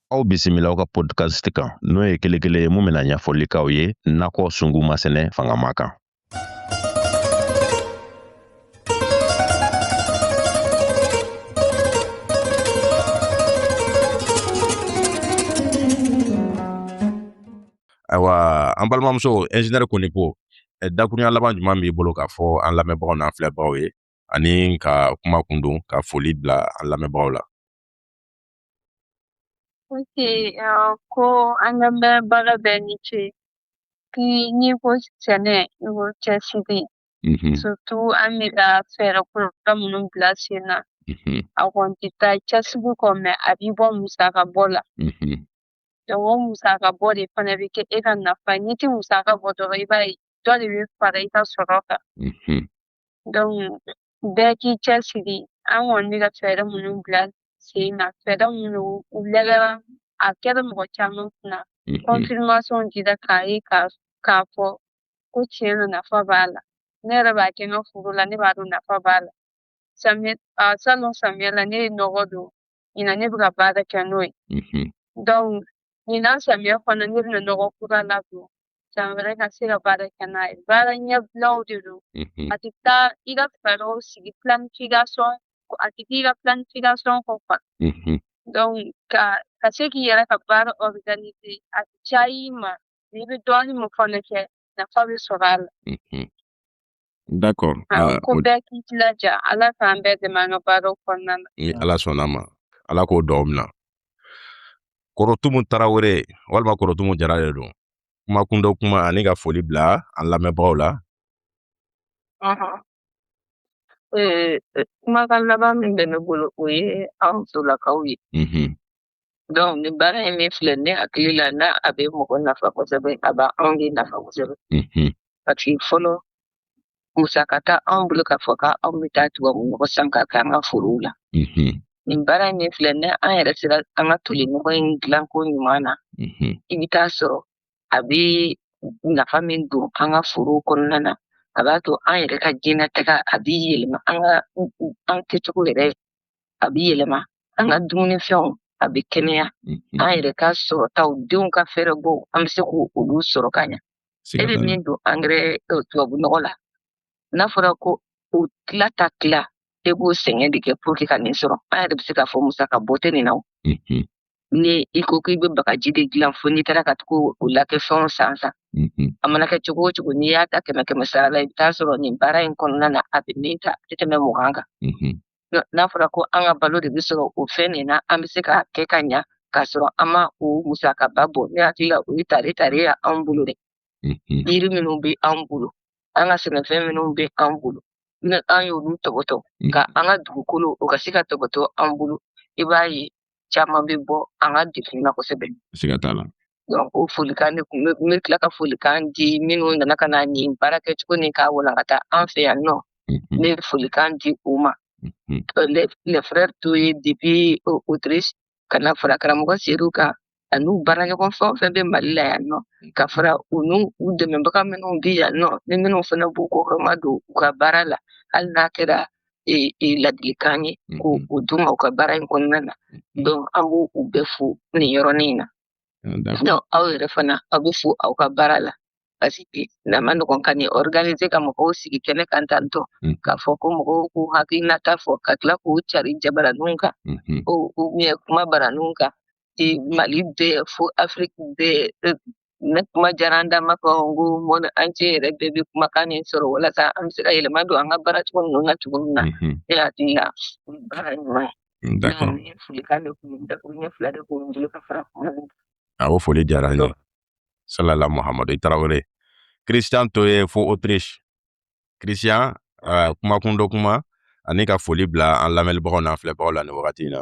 aw bisimila aw ka podcast kan n'o ye kelen kelen ye min bɛna ɲɛfɔli k'aw ye nakɔ sungu masɛnɛ fangama kan ayiwa an balimamuso ingénieur konipo eh, dakurunya laban jumɛn b'i bolo k'a fɔ an lamɛnbagaw n'an filɛbagaw ye ani ka kuma kundon ka foli bila an lamɛnbagaw la Ok, eh, ko an lamɛnbaga bɛɛ ni ce. N'i ko sɛnɛ, i ko cɛsiri. Mhm. Surtout an bɛ ka fɛɛrɛ kura minnu bila sen na, mhm. a kɔni tɛ taa cɛsiri kɔ mais a b'i bɔ musaka bɔ la. Mhm. Donc o musaka bɔ de fana bɛ kɛ e ka nafa ye. N'i tɛ musaka bɔ dɔrɔn i b'a ye dɔ de bɛ fara i ka sɔrɔ kan. Donc bɛɛ k'i cɛsiri an kɔni bɛ ka fɛɛrɛ minnu bila sen na fɛɛrɛ minnu u lajɛra a kɛra mɔgɔ caman kunna confirmation dira k'a ye k'a fɔ ko tiɲɛ na nafa b'a la ne yɛrɛ b'a kɛ n ka foro la ne b'a dɔn nafa b'a la salon samiya la ne ye nɔgɔ don ɲinan ne bɛ ka baara kɛ n'o ye donc ɲinan samiya fana ne bɛna nɔgɔ kura ladon san wɛrɛ ka se ka baara kɛ n'a ye baara ɲɛbilaw de don a tɛ taa i ka fɛɛrɛw sigi planification a tɛ k'i ka planification kɔ quoi donc ka ka se k'i yɛrɛ ka baara organiser a tɛ caya i ma n'i bɛ dɔɔnin min fana kɛ nafa bɛ sɔrɔ a la D'accord ko bɛɛ k'i jilaja ala k'an bɛɛ dɛmɛ an ka baara kɔnɔna na ni ala sɔnna ma ala k'o dugaw mina kɔrɔtumu tarawele walima kɔrɔtumu jara de don kuma kundon kuma ani ka foli bila an lamɛnbagaw la kumakan laban min bɛ ne bolo o ye anw musolakaw ye Donc nin baara in min filɛ ne hakili la n'a a bɛ mɔgɔ nafa kosɛbɛ a b'anw de nafa kosɛbɛ Mhm. parce que fɔlɔ musaka t'anw bolo k'a fɔ k'anw bɛ taa tubabu nɔgɔ san k'a kɛ an ka forow la Mhm. nin baara in min filɛ n'an yɛrɛ sera an ka toli nɔgɔ in dilanko ɲuman na Mhm. i bɛ taa sɔrɔ a bɛ nafa min don an ka forow kɔnɔna na a b'a to an yɛrɛ ka diɲɛnatigɛ a bɛ yɛlɛma an ka an kɛcogo yɛrɛ a bɛ yɛlɛma an ka dumunifɛnw a bɛ kɛnɛya an yɛrɛ ka sɔrɔtaw denw ka fɛɛrɛbɔ an bɛ se k'olu sɔrɔ ka ɲɛ e bɛ min don angɛrɛ tubabu nɔgɔ la n'a fɔra ko o tila ta tila e b'o sɛgɛn de kɛ pour que ka nin sɔrɔ an yɛrɛ bɛ se k'a fɔ musaka bɔ tɛ nin na o ni i ko k'i bɛ bagaji de dilan fo n'i taara ka tugu o lakɛ fɛnw san san a mana kɛ cogo o cogo n'i y'a ta kɛmɛ kɛmɛ sara la i bɛ taa sɔrɔ nin baara in kɔnɔna na a bɛ min ta a tɛ tɛmɛ mugan kan n'a fɔra ko an ka balo de bɛ sɔrɔ o fɛn nin na an bɛ se k'a kɛ ka ɲa k'a sɔrɔ an ma o musakaba bɔ ne hakili la o ye tare tare ye anw bolo dɛ yiri minnu bɛ anw bolo an ka sɛnɛfɛn minnu bɛ anw bolo ni an y'olu tɔbɔtɔ ka an ka dugukolo o ka se ka tɔbɔtɔ anw bolo i b'a ye caman bɛ bɔ an ka dɛgun na kosɛbɛ siga t'a la donc o folikan ne tun bɛ tila ka folikan di minnu nana ka na nin baara kɛ cogo ni k'a walankata an fɛ yan nɔ mhm. ne bɛ folikan di u ma mhm. le frère Toye depuis Autriche ka na fara karamɔgɔ Seydou kan ani u baaraɲɔgɔn fɛn o fɛn bɛ mali la yan nɔ ka fara u n'u u dɛmɛbaga minnu bɛ yan nɔ ni minnu fana b'u kɔkɔrɔmadon u ka baara la hali n'a kɛra e, e, ladilikan ye mhm. k'o d'u ma u ka baara in kɔnɔna na mhm. donc an b'u u bɛɛ fo nin yɔrɔnin in na ah, donc aw yɛrɛ fana aw bɛ fo aw ka baara la parce que a man nɔgɔn ka nin organiser ka mɔgɔw sigi kɛnɛ kan tantɔ mhm. k'a fɔ ko mɔgɔw k'u hakilinata fɔ ka tila k'u cari jabaraninw kan ou bien kumabaraninw kan ci Mali bɛɛ fo Afrique bɛɛ ne kuma diyara n da ma fɔ n ko monde entier yɛrɛ bɛɛ bɛ kumakan nin sɔrɔ walasa an bɛ se ka yɛlɛma don an ka baara cogo ninnu na cogo min na ne hakili la baara ɲuman ye nin folikan de kun dakuruɲɛ fula de kun bolo ka fara kuma awɔ foli diyara n ye salala muhammadu tarawele christian toye fo autriche christian kuma kun dɔ kuma ani ka foli bila an lamɛnbagaw n'an filɛbagaw la ni wagati in na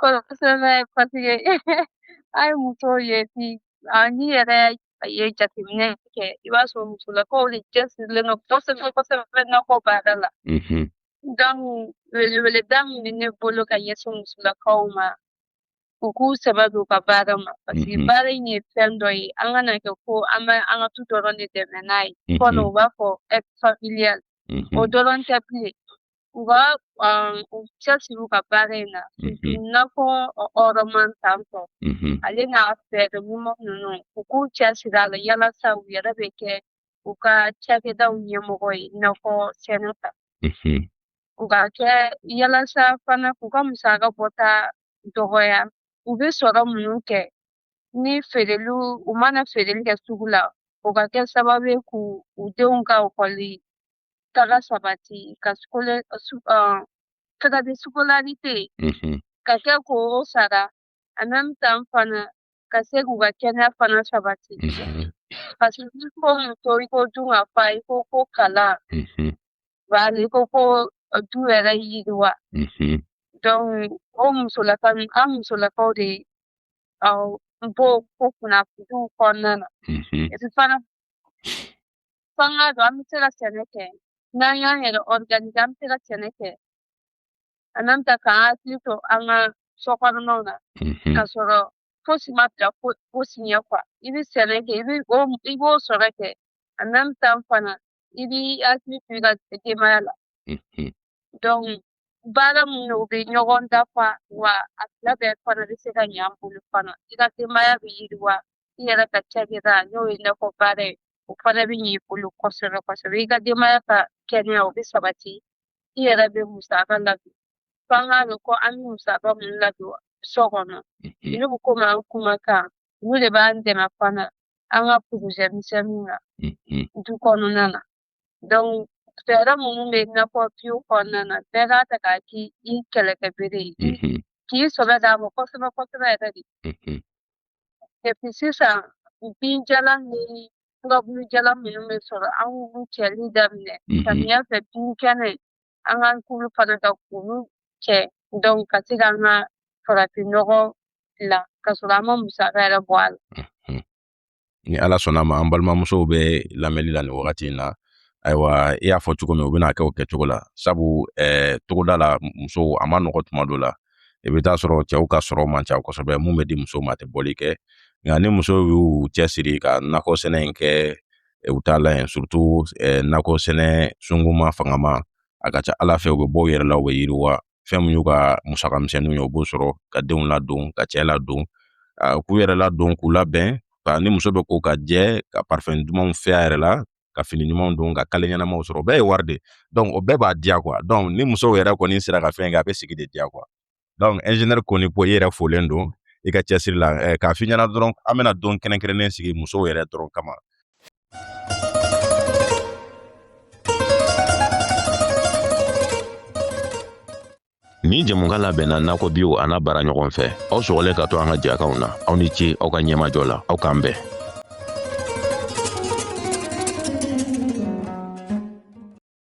Kosɛbɛ paseke an ye muso ye bi n'i yɛrɛ ye jateminɛ kɛ i b'a sɔrɔ musolakaw de cɛsirilen don kosɛbɛ kosɛbɛ nakɔ baara la donc weleweleda min bɛ ne bolo ka ɲɛsin musolakaw ma u k'u sɛbɛ don u ka baara ma paseke baara in ye fɛn dɔ ye an kana kɛ ko an bɛ an ka du dɔrɔn de dɛmɛ n'a ye fɔlɔ u b'a fɔ aide familiale o dɔrɔn tɛ bilen u ka um, u cɛsiri u ka baara in na i n'a fɔ ɔrɔman tan tɔ ale n'a fɛɛrɛ ɲuman ninnu u k'u cɛsiri a la yalasa u yɛrɛ bɛ kɛ u ka cakɛdaw ɲɛmɔgɔ ye i n'a fɔ sɛnɛ ta u ka kɛ yalasa fana k'u ka musaka bɔta dɔgɔya u bɛ sɔrɔ minnu kɛ ni feereliw u mana feereli kɛ sugu la o ka kɛ sababu ye k'u u denw ka ekɔli kalan sabati ka sukole su uh, frais de scolarité mm -hmm. ka kɛ k'o sara en même temps fana ka se k'u ka kɛnɛya fana sabati mm -hmm. parce que n'i ko muso i ko dunkafa i ko ko kalan mm -hmm. bari i ko ko du yɛrɛ yiriwa mm -hmm. donc o musolaka an musolakaw de uh, b'o ko kunnafoniw kɔnɔna na mm -hmm. et puis fana f'an k'a dɔn an bɛ se ka sɛnɛ kɛ n'an y'an yɛrɛ ɔriganize an bɛ se ka sɛnɛ kɛ en même temps k'an hakili to an ka sokɔnɔnaw na ka sɔrɔ fosi ma bila fosi ɲɛ kuwa i bɛ sɛnɛ kɛ i b'o sɔrɔ kɛ en même temps fana i b'i hakili to i ka denbaya la donc baara minnu bɛ ɲɔgɔn dafa wa a fila bɛɛ fana bɛ se ka ɲɛ an bolo fana i ka denbaya bɛ yiriwa i yɛrɛ ka cakɛda n'o ye nakɔ baara ye o fana bɛ ɲɛ i bolo kosɛbɛ kosɛbɛ i ka denbaya ka kɛnɛya o bɛ sabati i yɛrɛ bɛ musaka ladon fo an k'a dɔn ko an bɛ musaka minnu ladon so kɔnɔ olu bɛ komi an kuma kan olu de b'an dɛmɛ fana an ka porozɛ misɛnninw na du kɔnɔna na donc fɛɛrɛ minnu bɛ nakɔ biyo kɔnɔna na bɛɛ k'a ta k'a k'i kɛlɛkɛbere ye k'i sɔbɛ d'a ma kosɛbɛ kosɛbɛ yɛrɛ de sisan binjalan ni furabulujalan minnu bɛ sɔrɔ an k'olu cɛli daminɛ samiya fɛ bin kɛnɛ an k'an k'olu fana ka k'olu cɛ donc ka se k'an ka farafinnɔgɔ dilan ka sɔrɔ an ma musaka yɛrɛ bɔ a la ni ala sɔnn'a ma an balimamusow bɛ lamɛnli la nin wagati in na ayiwa i y'a fɔ cogo min u bɛn'a kɛ o kɛcogo la sabu eh, togoda la musow a ma nɔgɔ tuma dɔ la i bɛ taa sɔrɔ cɛw ka sɔrɔ man ca kosɛbɛ min bɛ di musow ma tɛ bɔli kɛ nka ni musow y'u cɛsiri ka nakɔ sɛnɛ in kɛ eh, u t'a la yen surutu eh, nakɔ sɛnɛ sunguma fangama a ka ca ala fɛ u bɛ bɔ u yɛrɛ la u bɛ yiriwa fɛn min y'u ka musaka misɛnninw ye u b'o sɔrɔ ka denw ladon ka cɛ ladon k'u yɛrɛ ladon k'u labɛn ka ni muso bɛ ko ka jɛ ka parifɛn dumanw fiyɛ a yɛrɛ la ka fini ɲumanw don ka kale ɲɛnamaw sɔrɔ o bɛɛ ye wari de ye o bɛɛ b'a diya kuwa ni musow yɛrɛ kɔni sera ka fɛn kɛ a bɛ sigi de diya kuwa dɔnku ɛnzinɛri Konipo i yɛrɛ folen don i ka cɛsiri la k'a f'i ɲɛna dɔrɔn an bɛna don kɛrɛnkɛrɛnnen sigi musow yɛrɛ dɔrɔn kama Nin jɛmukan labɛnna nakɔ biyo a n'a baaraɲɔgɔn fɛ aw sɔgɔlen ka to an ka jɛkanw na aw ni ce aw ka ɲɛmajɔ la aw k'an bɛn